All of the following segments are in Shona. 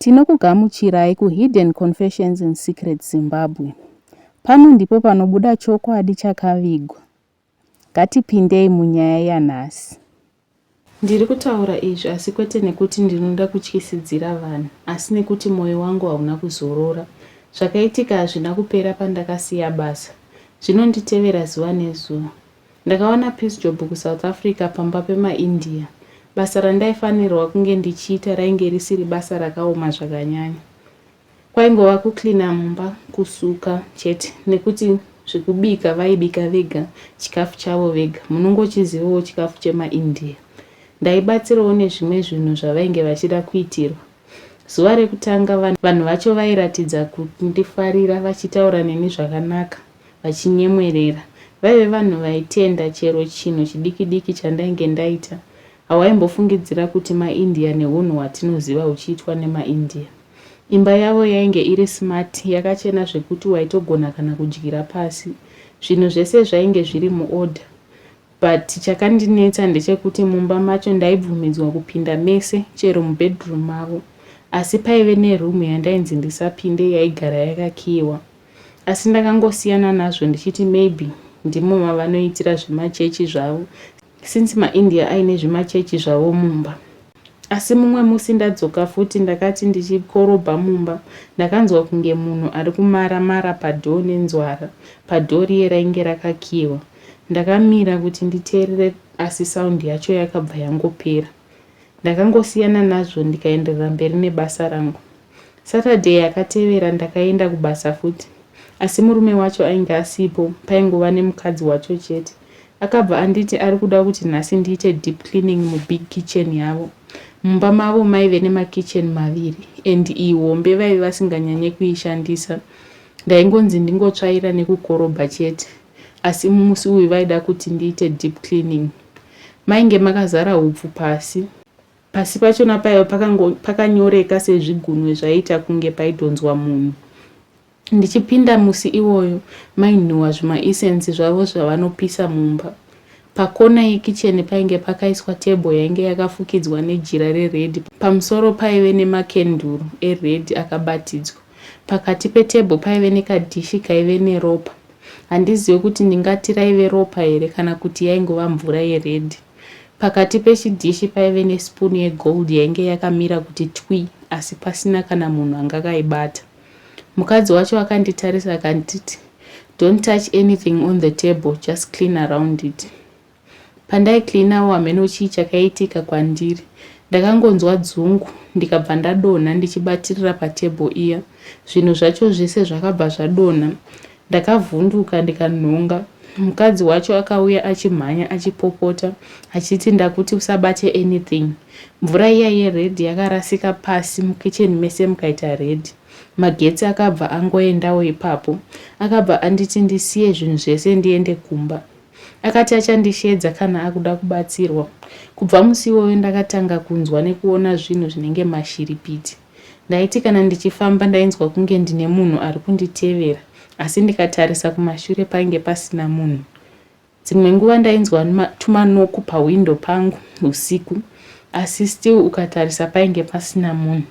Tinokugamuchirai ku Hidden Confessions in Secret Zimbabwe. Pano ndipo panobuda chokwadi chakavigwa. Ngatipindei munyaya yanhasi. Ndiri kutaura izvi asi kwete nekuti ndinoda kutyisidzira vanhu asi nekuti moyo wangu hauna kuzorora. Zvakaitika hazvina kupera pandakasiya basa. Zvinonditevera zuva nezuva. Ndakawana piece job kuSouth Africa pamba pemaIndia. Basa randaifanirwa kunge ndichiita rainge risiri basa rakaoma zvakanyanya. Kwaingova kucleaner mumba, kusuka chete nekuti zvekubika vaibika vega chikafu chavo vega. Munongochizivawo chikafu chemaIndia. Ndaibatsirawo nezvimwe zvinhu zvavainge vachida kuitirwa. Zuva rekutanga vanhu vacho vairatidza kundifarira vachitaura neni zvakanaka. vachinyemwerera. Vaive vanhu vaitenda chero chinhu chidikidiki chandainge ndaita. Hawaimbofungidzira kuti maIndia nehunhu hwatinoziva huchiitwa nemaIndia. Imba yavo yainge iri smart, yakachena zvekuti waitogona kana kudyira pasi. Zvinhu zvese zvainge zviri muorder. But chakandinetsa ndechekuti mumba macho ndaibvumidzwa kupinda mese chero mubedroom mavo. Asi paive neroom yandainzi ndisapinde yaigara yakakiiwa. Asi ndakangosiyana nazvo ndichiti maybe ndimo mavanoitira zvemachechi zvavo since maIndia aine zvimachechi zvavo mumba. Asi mumwe musi ndadzoka futi ndakati ndichikorobha mumba ndakanzwa kunge munhu ari kumara mara padoor nenzwara padoor riye rainge rakakiiwa. Ndakamira kuti nditeerere asi sound yacho yakabva yangopera. Ndakangosiyana nazvo ndikaenderera mberi nebasa rangu. Saturday yakatevera ndakaenda kubasa futi asi murume wacho ainge asipo paingova nemukadzi wacho chete. Akabva anditi ari kuda kuti nhasi ndiite deep cleaning mubig kitchen yavo. Mumba mavo maive nemakitchen maviri and iyi hombe vaive vasinganyanye kuishandisa. Ndaingonzi ndingotsvaira nekukorobha chete. asi musi uyu vaida kuti ndiite deep cleaning. Mainge makazara hupfu pasi. Pasi pachona paiva pakanyoreka sezvigunwe zvaiita kunge paidhonzwa munhu. Ndichipinda musi iwoyo mainhuwa zvimaisensi zvavo zvavanopisa mumba. Pakona yekicheni painge pakaiswa tebho yainge yakafukidzwa nejira reredhi. Pamusoro paive nemakenduru eredhi akabatidzwa. Pakati petebho paive nekadhishi kaive neropa. Handizive kuti ndingati raive ropa here kana kuti yaingova mvura yeredhi. Pakati pechidhishi paive nesipunu yegold yainge yakamira kuti twi asi pasina kana munhu anga akaibata. Mukadzi wacho akanditarisa akanditi, Don't touch anything on the table, just clean around it. Pandai cleanawo hameno chii chakaitika kwandiri ndakangonzwa dzungu ndikabva ndadonha ndichibatirira patable iya zvinhu zvacho zvese zvakabva zvadonha ndakavhunduka ndikanhonga mukadzi wacho akauya achimhanya achipopota achiti ndakuti usabate anything mvura iya yered yakarasika pasi mukitchen mese mukaita red magetsi akabva angoendawo ipapo akabva anditi ndisiye zvinhu zvese ndiende kumba Akati achandisheedza kana akuda kubatsirwa. Kubva musi iwoyo ndakatanga kunzwa nekuona zvinhu zvinenge mashiripiti. Ndaiti kana ndichifamba ndainzwa kunge ndine munhu ari kunditevera asi ndikatarisa kumashure painge pasina munhu. Dzimwe nguva ndainzwa tumanoku pahwindo pangu husiku asi still ukatarisa painge pasina munhu.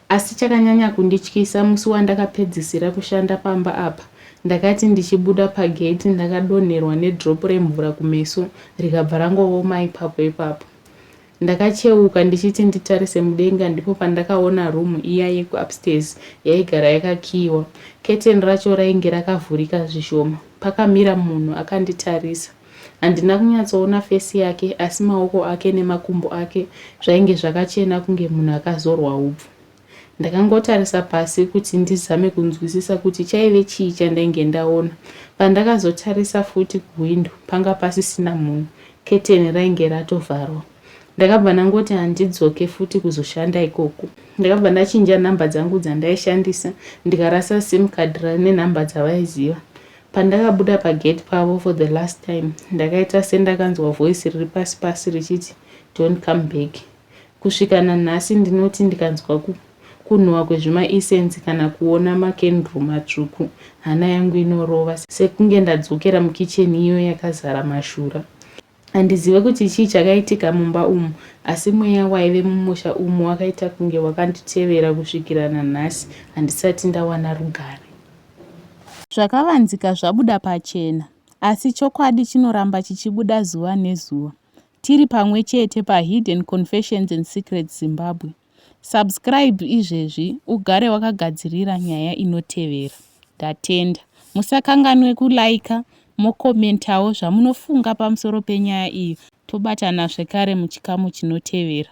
Asi chakanyanya kundityisa musi wandakapedzisira kushanda pamba apa ndakati ndichibuda pagate ndakadonherwa nedrop remvura kumeso rikabva rangooma ipapo ipapo. Ndakacheuka ndichiti nditarise mudenga ndipo pandakaona room iya yeku upstairs yaigara yakakiiwa. Curtain racho rainge rakavhurika zvishoma. Pakamira munhu akanditarisa. Handina kunyatsoona face yake asi maoko ake nemakumbo ake zvainge zvakachena kunge munhu akazorwa hupfu. Ndakangotarisa pasi kuti ndizame kunzwisisa kuti chaive chii chandainge ndaona. Pandakazotarisa futi kuhwindo panga pasisina munhu, keteni rainge ratovharwa. Ndakabva ndangoti handidzoke futi kuzoshanda ikoko. Ndakabva ndachinja number dzangu dzandaishandisa ndikarasa sim card rine number dzavaiziva. Pandakabuda pagate pavo for the last time ndakaita sendakanzwa voice riri pasi pasi richiti don't come back. Kusvika nanhasi ndinoti ndikanzwa ku kunhuwa kwezvima essence kana kuona makendru matsvuku hana yangu inorova sekunge ndadzokera mukitchen iyo yakazara mashura. Handizive kuti chii chakaitika mumba umu, asi mweya waive mumusha umu wakaita kunge wakanditevera kusvikira nanhasi handisati ndawana rugare. Zvakavanzika zvabuda pachena, asi chokwadi chinoramba chichibuda zuva nezuva. Tiri pamwe chete paHidden Confessions and Secrets Zimbabwe. Subscribe izvezvi ugare wakagadzirira nyaya inotevera. Ndatenda. Musakanganwe kuliker mocommentawo zvamunofunga pamusoro penyaya iyi tobatana zvekare muchikamu chinotevera.